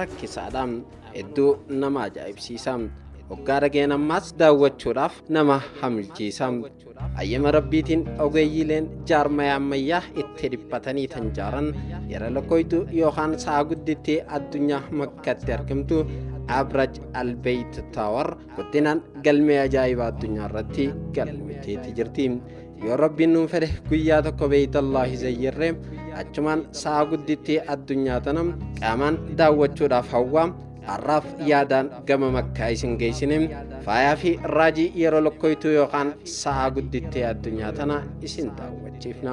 rakkisaadha hedduu nama ajaa'ibsiisa hoggaa dhageen ammaas daawwachuudhaaf nama hamilchiisa ayyama rabbiitiin ogeeyyiileen jaarmaya ammayyaa itti dhiphatanii tan jaaran yeroo lakkooftuu yookaan sa'a gudditti addunyaa makkatti argamtu abraj albeeyt taawar guddinaan galmee ajaa'ibaa addunyaa irratti galmiteetti jirti yoo rabbiin nuun fedhe guyyaa tokko beeytallaahi zayyirree achumaan sa'a gudditti addunyaa tana qaamaan daawwachuudhaaf hawwaa har'aaf yaadaan gama makkaa isin geessine faayaa fi raajii yeroo lokkoytuu yookaan sa'a gudditti addunyaa tana isin daawwachiifna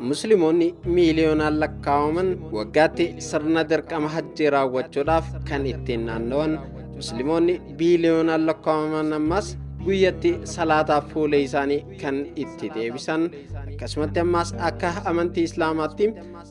Musliimonni miiliyoonaan lakkaa'aman waggaatti sirna dirqama hajjii raawwachuudhaaf kan ittiin naanna'an Musliimonni biiliyoonaan lakkaa'aman ammas guyyatti salaataaf fuula isaanii kan itti deebisan akkasumatti ammas akka amantii islaamaatti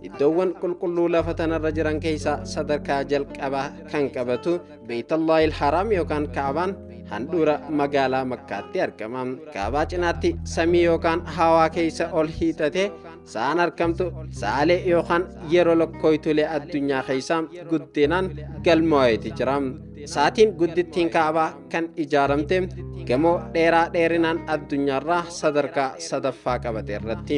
iddoowwan qulqulluu lafa tanarra jiran keessaa sadarkaa jalqabaa kan qabatu Beeytallaahil Haraam yookaan Kaabaan handhuura magaalaa Makkaatti argama. Kaabaa cinaatti samii yookaan hawaa keessa ol hiixatee sa'aan argamtu saalee yookaan yeroo lokkooytulee addunyaa keessa guddinaan galmaa'eeti jira. Saatiin guddittiin Kaabaa kan ijaaramte gamoo dheeraa dheerinaan addunyaarraa sadarkaa sadaffaa qabate irratti.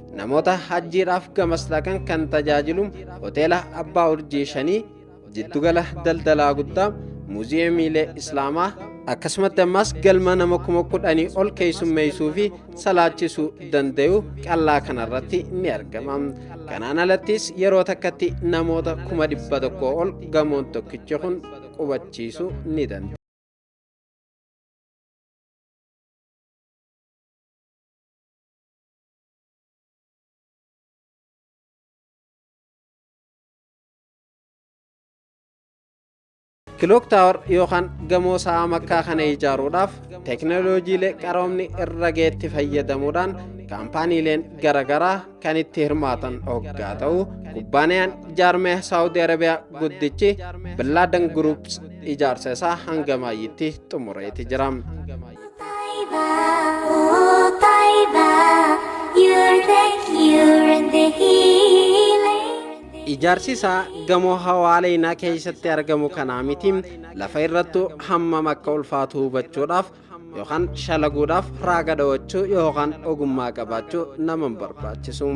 Namoota hajjiidhaaf gamas dhaqan kan tajaajilu hoteela Abbaa Urjii shanii, jiddugala daldalaa guddaa, muuziyeemiilee Islaamaa, akkasumatti ammas galma nama kuma kudhanii ol keessummeessuu fi salaachisuu danda'u qallaa kanarratti ni argama. Kanaan alattis yeroo takkatti namoota kuma dhibba tokko ol gamoon tokkichi kun qubachiisuu ni danda'a. Kilook Taawar yookaan gamoo sa'aa makkaa kana ijaaruudhaaf teeknooloojiilee qaroomni irra geetti fayyadamuudhaan kaampaaniileen garaagaraa kan itti hirmaatan hoggaa ta'u kubbaaniyaan jaarmee saawudii arabiyaa guddichi billaadan guruups ijaarsa isaa hanga maayyitti xumureeti jira. Ijaarsi isaa gamoo hawaaleynaa keessatti argamu kanaa miti lafa irrattu hammam akka ulfaatu hubachuudhaaf yookaan shalaguudhaaf raaga dhawachuu yookaan ogummaa qabaachuu nama hin barbaachisu.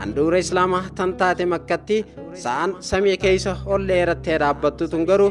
Handhuura Islaamaa tan taate makkatti sa'aan samii keessa ol dheerattee dhaabbattu tun garuu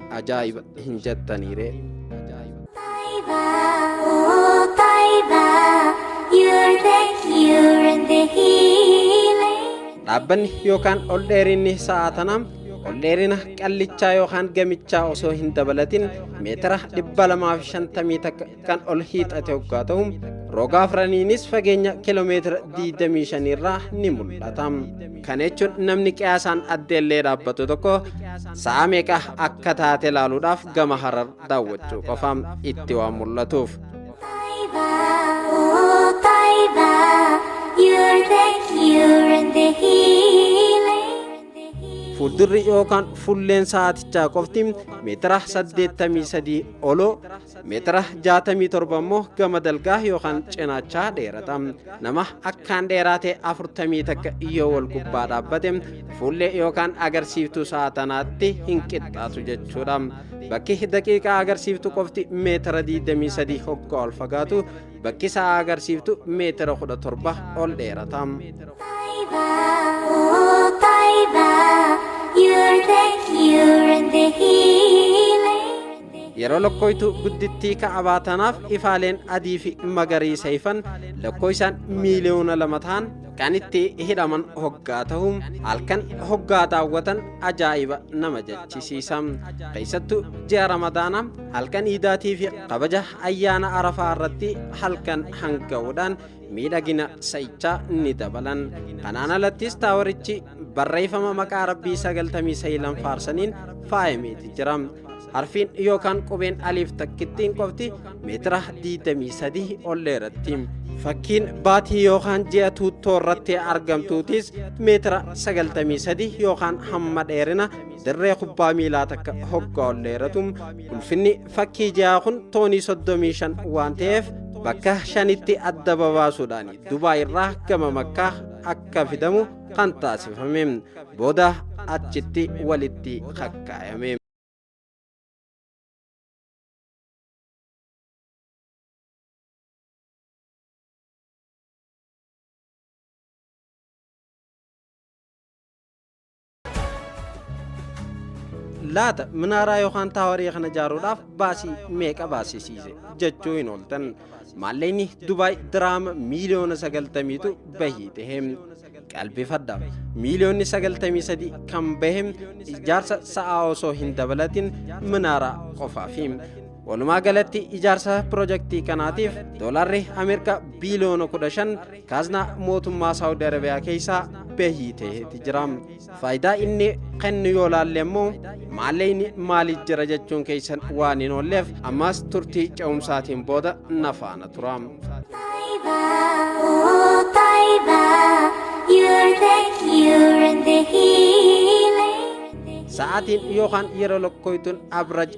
ajaa'iba hin jattanii ree. Oh, Taiba, you're the cure and the healing. Dhaabbanni yookaan ol dheerinni sa'a tanaa ol dheerina qallichaa yookaan gamichaa osoo hin dabalatin meetira 250 takka kan ol hiixate hoggaa ta'u roga afraniinis fageenya kiiloomeetira 25 irraa ni mul'ata. Kana jechuun namni qiyaasaan addeellee dhaabbatu tokko sa'a meeqa akka taate ilaaluudhaaf gama harar daawwachuu qofa itti waan mul'atuuf. Fuuldurri yookaan fulleen sa'aatichaa qofti meetira 83 oloo meetira 67 immoo gama dalgaa yookaan cinaachaa dheerata. Nama akkaan dheeraatee 40 takka yoo wal gubbaa dhaabbate fuullee yookaan agarsiiftuu sa'a tanaatti hin qixxaatu jechuudha. Bakki daqiiqaa agarsiiftu qofti meetira 23 hoggaa ol fagaatu bakki sa'a agarsiiftu meetira 17 ol dheerata. Oh, Taiba, you're the cure and the healer. Yeroo lokkooytuu guddittii ka'abaa tanaaf ifaaleen adii fi magariisa ifan lokkooysaan miiliyoona lama ta'an kan itti hidhaman hoggaa ta'u halkan hoggaa daawwatan ajaa'iba nama jechisiisa. Keessattuu ji'a Ramadaana halkan iidaatii fi kabaja ayyaana arafaa irratti halkan hanga'uudhaan miidhagina sa'ichaa ni dabalan. Kanaan alattis taawarichi barreeffama maqaa rabbii sagaltamii sayilan faarsaniin faayamee jira. Harfiin yookaan qubeen aliif takkittiin qofti meetira 23 ol dheeratti. Fakkiin baatii yookaan ji'a tuuttoo irratti argamtuutis meetira 93 yookaan hamma dheerina dirree kubbaa miilaa takka hoggaa ol dheeratu. Ulfinni fakkii ji'aa kun toonii 35 waan ta'eef bakka shanitti adda babaasuudhaan Dubaay irraa gama makkaa akka fidamu kan taasifame booda achitti walitti kakkaayame. laata minaaraa yookaan taawarii kana ijaaruudhaaf baasii meeqa baasisiise jechuu hin ooltan Maalleyni Dubaay diraama miiliyoona sagaltamiitu bahii tahe. Qalbifadha. Miiliyoonni sagaltamii sadii kan bahe ijaarsa sa'aa osoo hin dabalatin minaaraa qofaafi. Walumaa galatti ijaarsa pirojektii kanaatiif doolaarri Ameerikaa biiliyoona kudha shan kaaznaa mootummaa Saawudi Arabiyaa keessaa bahii taheeti jira. Faayidaa inni kennu yoo laalle immoo maalleyni maaliif jira jechuun keessan waan hin oolleef ammaas turtii ce'umsaatiin booda na faana tura. Taiba, oh Taiba, you're the cure and the healing. Sa'aatiin yookaan yeroo lokkooytuun average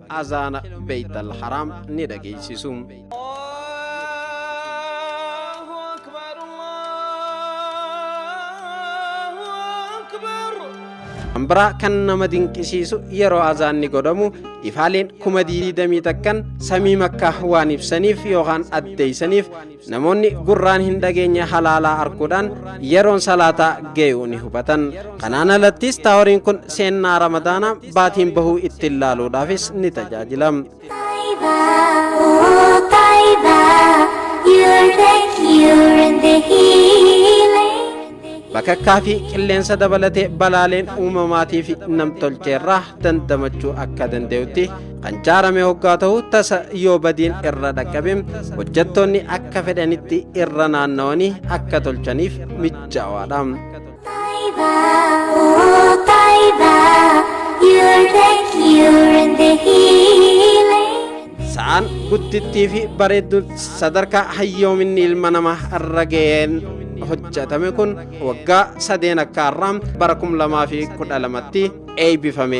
azaana Beeytal Haraam ni dhageessisu. Kan biraa kan nama dinqisiisu yeroo azaanni godhamu ifaaleen kuma diidamii takkan samii makkaa waan ibsaniif yookaan addeeysaniif Namoonni gurraan hin dhageenye halaalaa arguudhaan yeroon salaataa ga'uu ni hubatan. Kanaan alattis taaworiin kun seennaa ramadaanaa baatiin bahuu ittiin laaluudhaafis ni tajaajila. Taiba, oh Taiba, you're the cure and the healing. Bakakkaa fi qilleensa dabalatee balaaleen uumamaatii fi namtolcheerraa dandamachuu akka danda'utti kan jaarame hoggaa ta'u tasa yoo badiin irra dhaqqabe hojjettoonni akka fedhanitti irra naannawanii akka tolchaniif mijaawaadha. Taiba, oh Taiba, you are the cure and the healing. Sa'aan guddittii fi bareedduun sadarkaa hayyoominni ilma namaa irra ga'een hojjetame kun waggaa sadeen akka har'aa bara 2012tti eebbifame